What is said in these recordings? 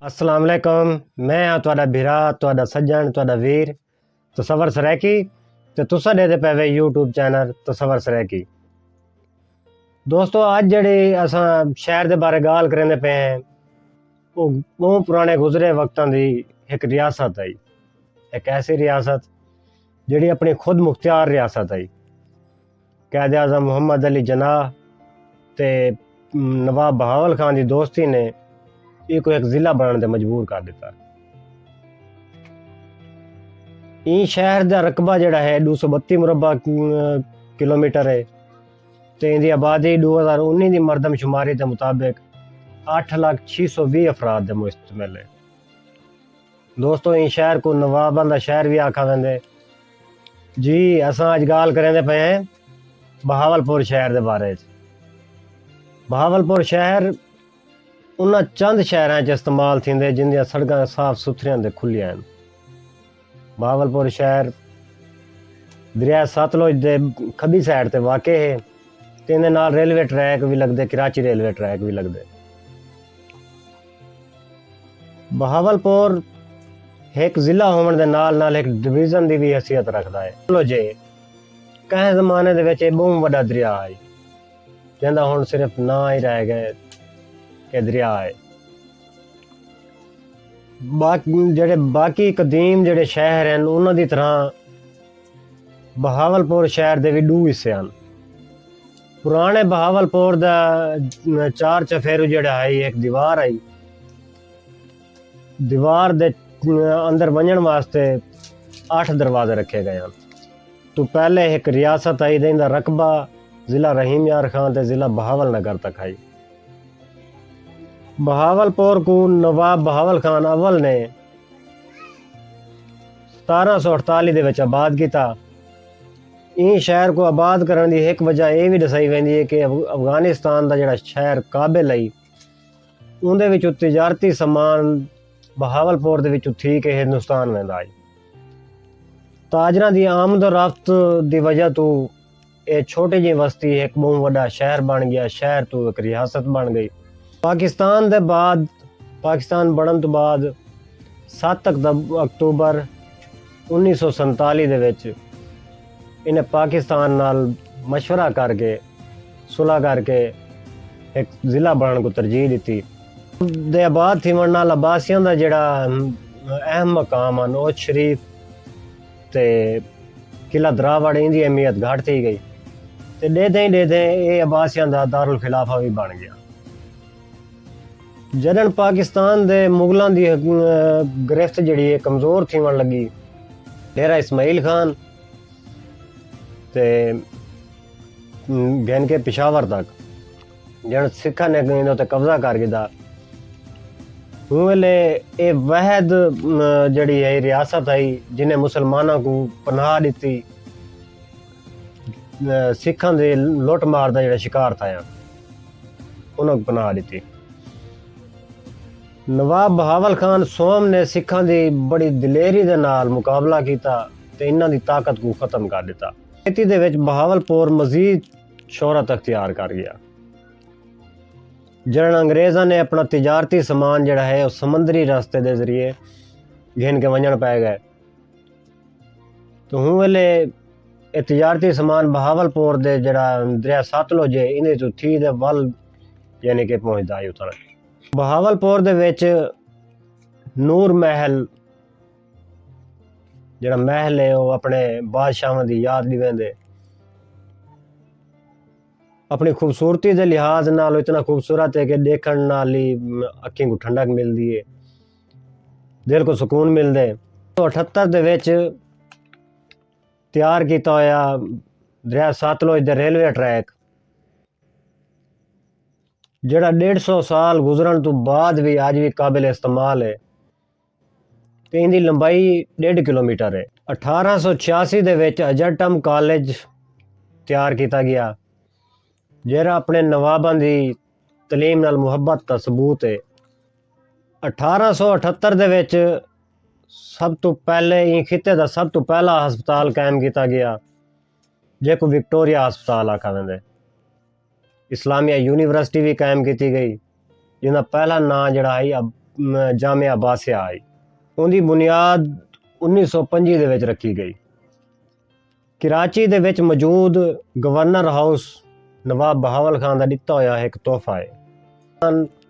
السلام علیکم میں ہاں تہاڈا بھرا تہاڈا سجن تہاڈا ویر تصور سرائیکی تے تساں دے دے پے یوٹیوب چینل تصور سرائیکی دوستو اج جڑی اساں شہر دے بارے گال کریندے پے ہیں او ٻہوں پراݨے گزرے وقتاں دی ہک ریاست ہئی۔ ہک ایسی ریاست جیڑھی اپݨی خود مختیار ریاست ہئی۔ قائد اعظم محمد علی جناح تے نواب بہاول خان دی دوستی نے ایکوں ہک ضلع بݨݨ تے مجبور کر ݙتا۔ ایں شہر دا رقبہ جیڑھا ہے ݙو سو ٻتی مربع کلومیٹر ہے۔ تے ایندی آبادی ݙو ہزار انہی دی مردم شماری دے مطابق اٹھ لکھ چھی سو ویہہ افراد دے مشتمل ہے۔ دوستو ایں شہر کوں نواباں دا شہر وی آکھا ویندے۔ جی اساں اڄ ڳالھ کریندے پئے ہیں بہاول پور شہر دے بارے اچ۔ بہاول پور شہر۔ انہاں چند شہراں اچ استعمال تھیندے جیندیاں سڑکاں صاف ستھریاں تے کھلیاں ہن۔ بہاولپور شہر دریائے ستلج دے کھبی سائیڈ تے واقع ہے تے ایندے نال ریلوے ٹریک وی لگدے کراچی ریلوے ٹریک وی لگدے۔ بہاولپور ہک ضلع ہووݨ دے نال نال ہک ڈویژن دی وی حیثیت رکھدا ہے۔ ستلج کہیں زمانے دے وچ اے ٻہوں وݙا دریا ہئی۔ جیندا ہݨ صرف ناں ای رہ ڳئے کہ دریا اے۔ جیڑھے باقی قدیم جیڑھے شہر ہن انہاں دی طرح بہاول پور شہر دے وی ݙو حصے ہن۔ پراݨے بہاول پور دا چار چفیرو جیڑھا ہئی ہک دیوار ہئی۔ دیوار دے اندر ونڄݨ واسطے اٹھ دروازے رکھے ڳئے ہن۔ توں پہلے ہک ریاست ہئی جئیں دا رقبہ ضلع رحیم یار خان تے ضلع بہاول نگر تک ہئی۔ بہاول پور کوں نواب بہاول خان اول نے ستارہ سو اٹھتالی دے وچ آباد کیتا۔ ایں شہر کوں آباد کرݨ دی ہک وجہ ایہ وی ݙسائی ویندی ہے کہ افغانستان دا جیڑھا شہر کابل ہئی، اوندے وچوں تجارتی سامان بہاولپور دے وچوں تھی کے ہندوستان ویندا ہئی۔ تاجراں دی آمد و رفت دی وجہ توں اے چھوٹی جئیں وستی ہک بہوں وڈا شہر بن گیا، شہر توں ہک ریاست بن گئی۔ پاکستان دے بعد پاکستان بنڑن توں بعد ست اکتوبر انیس سو سنتالی دے وچ انہیں پاکستان نال مشورہ کر کے۔ صلح کر کے ہک ضلع بݨݨ کوں ترجیح ݙتی۔ دے آباد تھیوݨ نال عباسیاں دا جیڑھا اہم مقام ہن اوچ شریف تے قلعہ دراوڑ ایں دی اہمیت گھٹ تھی ڳئی تے ݙیدھیں ݙیدھیں اے عباسیاں دا دارالخلافہ وی بݨ ڳیا۔ جݙݨ پاکستان دے مغلاں دی گرفت جیڑھی اے کمزور تھیوݨ لڳی۔ ڈیرہ اسماعیل خان تے۔ گھن کے پشاور تک جن سکھاں نے انہاں تے قبضہ کر گھدا ہوں ویلے اے وحد جڑی ہے ریاست ہے جن نے مسلماناں کو پناہ ڈتی سکھاں دے لوٹ مار دا جڑا شکار تھا یا انہاں کو پناہ ڈتی نواب بہاول خان سوم نے سکھاں دی بڑی دلیری دے نال مقابلہ کیتا تے انہاں دی طاقت کو ختم کر دیتا کھیتی دے وچ بہاول پور مزید شہرت اختیار کر گیا۔ جݙݨ انگریزاں نے اپݨا تجارتی سامان جیڑھا ہے او سمندری راستے دے ذریعے گھن کے ونڄݨ پئے ڳئے تاں ہوں ویلے اے تجارتی سامان بہاول پور دے جیڑھا دریا ساتلج ہے ایندے توں تھی تے ول یعنی کہ پہنچدا ہے اتݨ۔ بہاول پور دے وچ نور محل، جیڑھا محل ہے او اپݨے بادشاہواں دی یاد ݙیویندے۔ اپݨی خوبصورتی دے لحاظ نال او اتنا خوبصورت ہے کہ ݙیکھݨ نال ہی اکھیں کوں ٹھنڈک ملدی ہے، دل کوں سکون ملدے۔ اٹھہتر دے وچ تیار کیتا ہویا دریا ستلج دے ریلوے ٹریک جیڑھا ݙیڈھ سو سال گزرݨ توں بعد وی اڄ وی قابل استعمال ہے۔ تے ایندی لمبائی ݙیڈھ کلومیٹر ہے۔ اٹھارہ سو چھیاسی دے وچ اجرٹم کالج تیار کیتا ڳیا جیرھا اپݨے نواباں دی تعلیم نال محبت دا ثبوت ہے۔ اٹھارہ سو اٹھہتر دے وچ سب توں پہلے ایں خطے دا سب توں پہلا ہسپتال قائم کیتا ڳیا جیکوں وکٹوریہ ہسپتال آکھا ویندے۔ اسلامیہ یونیورسٹی بھی قائم کیتی گئی جن کا پہلا نام جڑا آئی جامعہ عباسیہ آئی ان کی بنیاد انیس سو پنجی دے وچ رکھی گئی کراچی دے وچ موجود گورنر ہاؤس نواب بہاول خان دا ڈتا ہویا ایک تحفہ ہے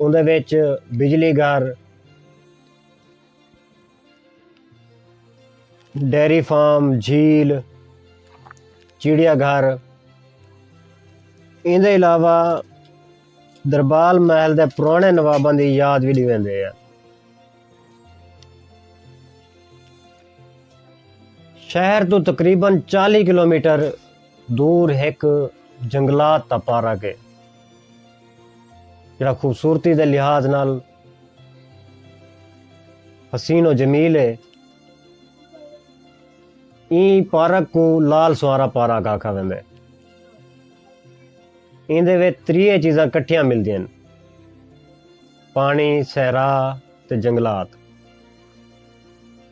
اوندے وچ بجلی گھر، ڈیری فارم، جھیل، چڑیا گھر ایندے علاوہ دربال محل دے پرانے نواباں دی یاد وی ڈیویندے ہیں۔ شہر توں تقریبا چالی کلومیٹر دور ہک جنگلات دا پارک ہے۔ جڑا خوبصورتی دے لحاظ نال حسین و جمیل ہے این پارک کو لال سوارا پارک آکھا ویندے این دے وچ تریے چیزاں کٹھیاں ملدیاں پانی صحرا تے جنگلات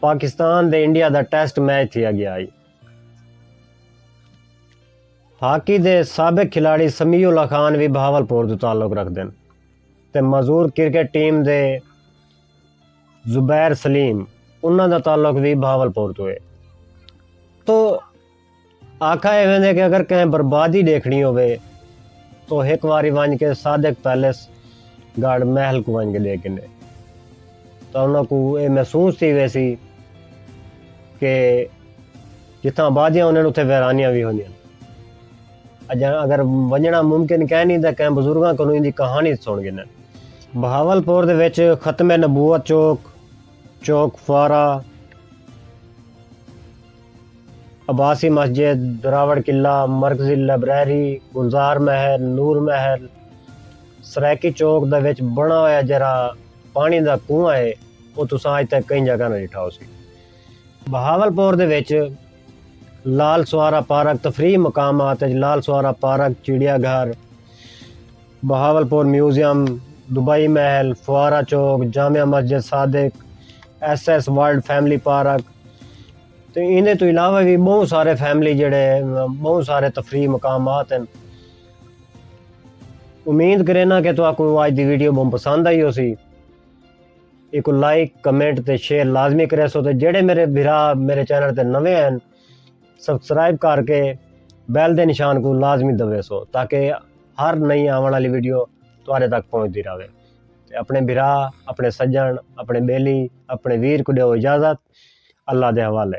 پاکستان دے انڈیا دا ٹیسٹ میچ تھیا گیا ہئی۔ ہاکی دے سابق کھلاڑی سمیع اللہ خان وی بہاول پور توں تعلق رکھدن تے معذور کرکٹ ٹیم دے زبیر سلیم انہاں دا تعلق وی بہاول پور توں ہے۔ توں آکھا ہے ویندے کہ اگر کہیں بربادی ڈیکھنی ہووے تو ہک واری ونج کے صادق پیلس گڑھ محل کو ونج کے ڈیکھ گھنے تو انہاں کو اے محسوس تھی ویسی کہ جتھاں آبادیاں انہاں اتھے ویرانیاں بھی ہوندیاں اجاں اگر ونجنا ممکن کہیں نہیں تاں کہیں بزرگاں کنوں ان دی کہانی سن گھنے بہاول پور دے وچ ختم نبوت چوک چوک فارا عباسی مسجد، دراوڑ قلعہ، مرکزی لائبریری، گلزار محل، نور محل، سرائیکی چوک دے وچ بݨا ہویا جیرھا پاݨی دا کنواں ہے او تساں اڄ تئیں کہیں جاگہ نہ ݙٹھا ہوسی۔ بہاولپور دے وچ لال سوارا پارک تفریحی مقامات اچ لال سوارا پارک، چڑیا گھر، بہاولپور میوزیم، دبئی محل، فوارہ چوک، جامع مسجد Sadiq, S S world family park, تے ایندے توں علاوہ وی ٻہوں سارے فیملی جیڑھے ٻہوں سارے تفریح مقامات ہن۔ امید کرینداں کہ تہاکوں اج دی ویڈیو ٻہوں پسند آئی ہوسی۔ ایکوں لائک، کمنٹ تے شیئر لازمی کریسو تے جیڑھے میݙے بھرا میݙے چینل تے نویں ہن سبسکرائب کر کے بیل دے نشان کوں لازمی دبیسو تاکہ ہر نئی آوݨ آلی ویڈیو تہاݙے تک پہنچدی رہوے۔ تے اپݨے بھرا، اپݨے سڄݨ، اپݨے ٻیلی، اپݨے ویر کوں ݙیؤ اجازت، اللہ دے حوالے۔